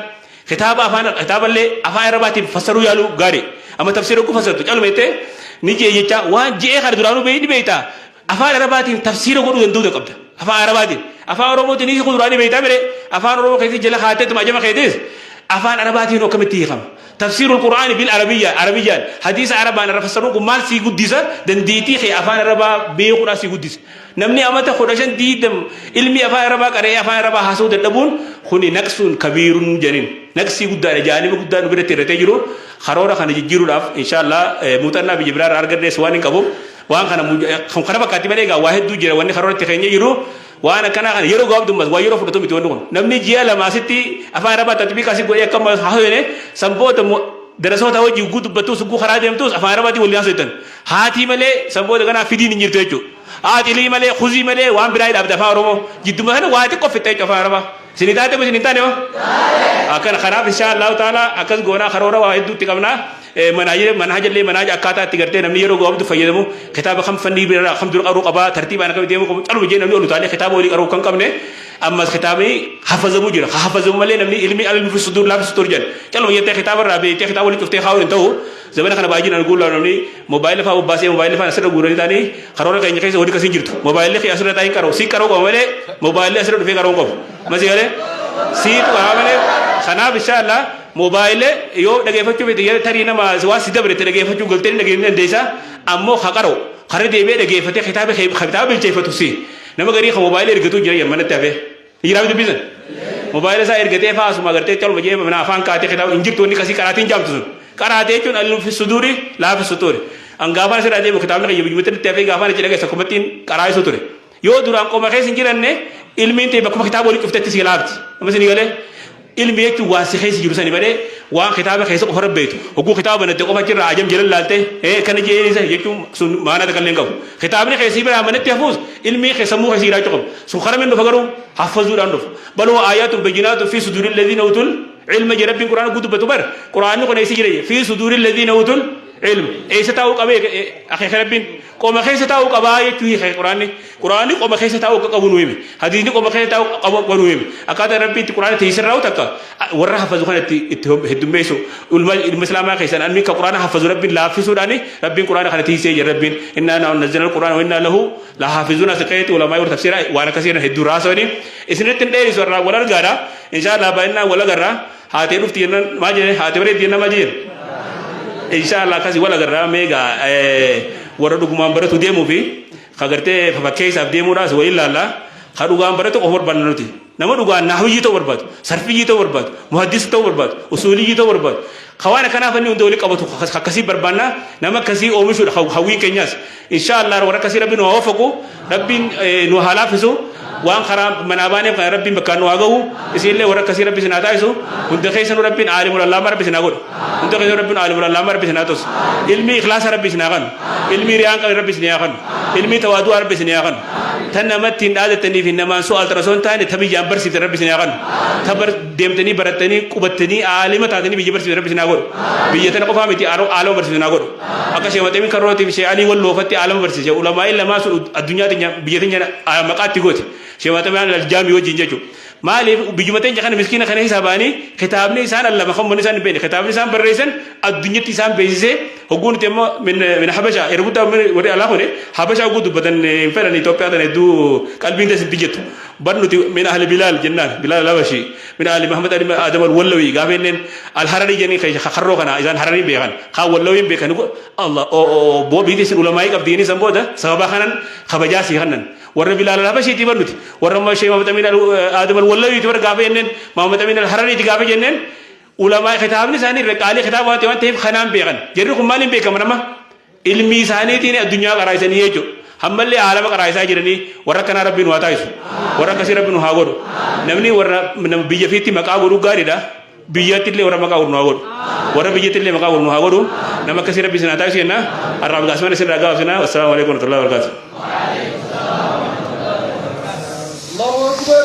kitaaba afaan kitaaballee afaan arabaatiin fassaruu yaaluu gaarii. Amma tafsiira ogguu fassartu caluma jettee ni jee jechaa waan je'ee kana duraanuu beeyni beeytaa Afaan Arabaatiin tafsiira godhuu danda'uudha qabda. Afaan Arabaatiin. Afaan Oromootiin hiika kuduraanii beektaa mire afaan Oromoo keessatti jala kaatteetuma ajama keetis afaan Arabaatiin akkamitti hiikama. Tafsiirul Qur'aani bil Arabiyyaa Arabiyyaan hadiisa Arabaan irra fassaruun kun maal sii guddisa dandeettii kee afaan Arabaa beekuudhaa sii guddisa. Namni amata kudha shan diidam ilmi afaan Arabaa qara'ee afaan Arabaa haasa'uu dadhabuun kuni naqsuun kabiirun jedhin. Naqsii guddaadha jaalima guddaa nu biratti irratee jiru karoora kana jijjiiruudhaaf inshaallah muuxannaa biyya biraa irraa argadhees waan hin qabuuf Waan kana kan kana fakkaatti malee egaa waa hedduu jira wanni karoora itti keenya jiru waan akkanaa kana yeroo gabaabdummaas waa yeroo fudhatu miti wanni kun namni ji'a lama asitti afaan arabaa tatbiiqa asi godhee akka haasofne san booda darasoota hojii ugguu dubbattuus ugguu karaa deemtuus afaan arabaatiin waliin haasoftan haatii malee san booda ganaa fidiin hin jirtu jechuudha haatilii malee kuzii malee waan biraa hidhaabda afaan oromoo jidduma kana waa xiqqoo fixxa jechuudha afaan arabaa isin taate isin hin taane akkana kanaaf inshaa allahu taala akkas goonaa karoora waa hedduutti qabnaa Manaaja manaaja illee manaaja akkaataa itti gartee namni yeroo gabaabdu fayyadamu kitaaba kam fannii bira kam dura qaruu qabaa tartiibaan akkamitti deemuu qabu caluma jee namni ol utaalee kitaaba olii qaruu kan qabne ammas kitaabni hafazamu jira ka hafazamu malee namni ilmi almi fi sudur laafi sudur jedhan caluma jettee kitaaba irraa beektee kitaaba olii cuftee kaa'uun hin ta'u zamana kana baay'inaan guullaa namni moobaayila fa'aa bobbaasee moobaayila fa'aa asirra guuranii taanii karoora keenya keessa hojii akkasii jirtu moobaayilli kee asirra taa'in qaroo sii qaroo qaba malee moobaayilli asirra dhufee qaroo qabu masii galee sii tuqaa malee kanaaf inshaa Allah Mobile yoo dhageefachuu fete yere tarii nama waa si dabre te dhageefachuu galtee ni dhageefachuu dandeessa ammoo ka qara'u karra deebi'ee dhageefate kitaaba kee kitaaba bilcheeffatu si nama garii ka mobile ergatuu jira yamma natti hafee ni jiraa dubbii sun mobile isaa ergatee faa asuma agartee caluma jee mana afaan kaatee kitaaba hin jirtu wanni kasii qaraatiin jaamtu sun qaraatee jechuun alluufi suduuri laafi sutuuri an gaafaan asirraa deemu kitaabni kiyya biyyumatti natti hafee gaafaan achi dhageessa kumattiin qaraa'isuu ture Yoo duraan qoma keessa hin jiranne ilmiin ta'e bakkuma kitaaba walitti dhuftetti si laafti. Amma isin galee ilmi jechuun waan si keessa jiru sani malee waan kitaaba keessa qofa rabbeetu. Hogguu kitaaba banatte qofa jirra ajam jala laalte ee kana jeesa jechuun sun maanaa takka illee hin qabu. Kitaabni keessa bira amanetti hafuus ilmi keessa sammuu keessa jiraachuu qabu. Sun karaa min dhufa garuu haffazuudhaan dhufa. Baloo aayaatun bajinaatun fi suduurin ladhiin hawutul ilma jedha rabbiin quraana guutuu dubbatu bar quraanni kun eessa jira fi suduurin ladhiin hawutul Ilm eessa taa'uu qabee akeeka rabbiin qoma keessa taa'uu qabaa jechuu hiika quraanni quraanni qoma keessa taa'uu akka qabu nu hime hadiisni qoma keessa taa'uu qabu akka nu hime akkaataa rabbiin itti quraana teessee raawwatu akka warra hafazu kana itti itti heddummeessu ilma ilma islaamaa keessan anni ka quraana hafazu rabbiin laaffisuudhaani rabbiin quraana kana teessee jira rabbiin innaa naa nazzala quraana wa innaa lahu la haafizuuna siqeeti ulamaa yoo tafsiira waan akkasii hedduu raasawanii isinitti hin dheerisu irraa wal argaadha inshaa Allah baay'inaan wal agarraa Haatee dhufti jennaan maa jee haatee bareeddi jennaan maa jeen. Inshaallah akkasii wal agarraa meegaa warra dhugumaan baratu deemuu fi ka gartee fakkeessaaf deemuudhaas wa ilaalla ka dhugaan baratu qofa barbaadna nuti. Nama dhugaan naahuyyii ta'uu barbaadu, sarfiyyii ta'uu barbaadu, muhaddisa ta'uu barbaadu, usuuliyyii ta'uu barbaadu. Ka waan akkanaa fanni hunda wali qabatu akkasii barbaadna nama akkasii oomishuudha hawwiin keenyaas. Inshaa Allah warra akkasii rabbi nu haa waffaqu rabbiin nu haa laaffisu waan karaa manaa baaneef kana rabbiin bakkaan nu haa gahu isiinillee warra akkasii rabbi isin haa taasisu hunda keessanuu rabbiin aalimul allaama rabbi isin haa godhu hunda keessanuu rabbiin aalimul allaama rabbi isin haa tolsu ilmii ikhlaasa rabbi isin haa kanu ilmii riyaan qabne rabbi isin haa kanu ilmii tawaadu'aa rabbi isin haa kanu tan namatti hin dhaadatanii fi namaan su'aal tarasoo hin taane ta biyyaan barsiifte rabbi isin haa kanu ta bar deemtanii barattanii qubattanii aalima taatanii biyya barsiifte rabbi isin haa godhu biyya tana qofaa miti aaloo barsiifte isin haa godhu Akka Sheikh Maxemin Karrootiif Sheikh Alii Walloo fatti aalama barsiise. Ulamaa'iin lamaa sun addunyaa teenya biyya teenya maqaa itti goote. Sheikh Maxemin Aljaamii wajjin jechuudha. Maaliif biyyuma teenya kana miskiina kana keessaa ba'anii kitaabni isaan allama kan manni isaan hin beekne kitaabni isaan barreessan addunyatti isaan beeksisee hogguu nuti immoo min habasha yeroo guddaa warri alaa kuni habasha hogguu dubbatan hin fedhan Itoophiyaa tana hedduu qalbiin teessi hin jettu. Bar nuti min ahli bilaal jennaan bilaal habashii. Min Aali Mahammad Aadam Al-Wallawii gaafa jenneen Al-Hararii jenneen keessa ka karroo kana isaan Hararii beekan kaan Wallawiin beekan go Allah o o bo biiti isin ulamaa'ii qabdi jennee san booda sababa kanan kabajaa sii kannan warra Bilaal Al-Habashiitii bar nuti warra ma Sheikh Mahammad Amin Aadam Al-Wallawiiti bar gaafa jenneen Mahammad Amin Al-Harariiti gaafa jenneen ulamaa kitaabni isaanii irra qaalii kitaaba waan ta'eef kanaan beekan jarri kun maaliin beekaman amma Ilmii isaaniitiin addunyaa qaraasisanii jechuudha. Hammallee aalama qaraayisaa jiranii warra akkanaa rabbii nu haa taasisu. Warra akkasii rabbi nu haa godhu. Namni warra nama biyya fiitti maqaa godhu gaariidha. Biyyatti illee warra maqaa godhu nu haa godhu. Warra biyyatti illee maqaa godhu nu haa godhu. Nama akkasii rabbi isin haa taasisu jenna. Har'aaf gaasumana isin irraa gabaabsina. Wassalaamu alaikum warahmatullahi wabarakatuh. الله أكبر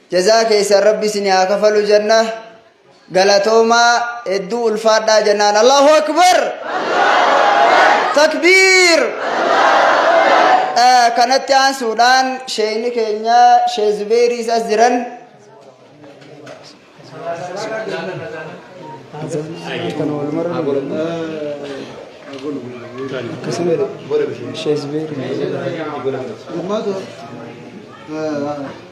Jazaa keessan rabbi isinii haa kafalu jenna galatoomaa hedduu ulfaadhaa jennaan Allahu Akbar takbiir Eh, kanatti aansuudhaan sheeyni keenya shee Zubeeriis as jiran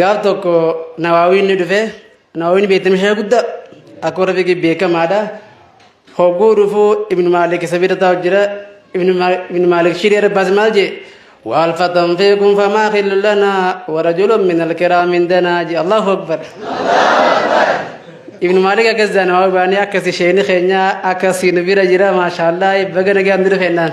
gaaf tokko nawaawiin ni dhufe nawaawiin beektama ishee guddaa akka warra fiqii beekamaadha hogguu dhufu ibnu maalik isa bira taa'u jira ibnu maalik shiree rabbaas maal jee waal fatan fiikum famaa khillu lanaa warajulun min alkiraam indanaa jee allahu akbar ibnu maalik akkas jaa nawaawii baanii akkas isheen keenyaa akkas nu bira jira maashaallah baga nagaan duru kennaan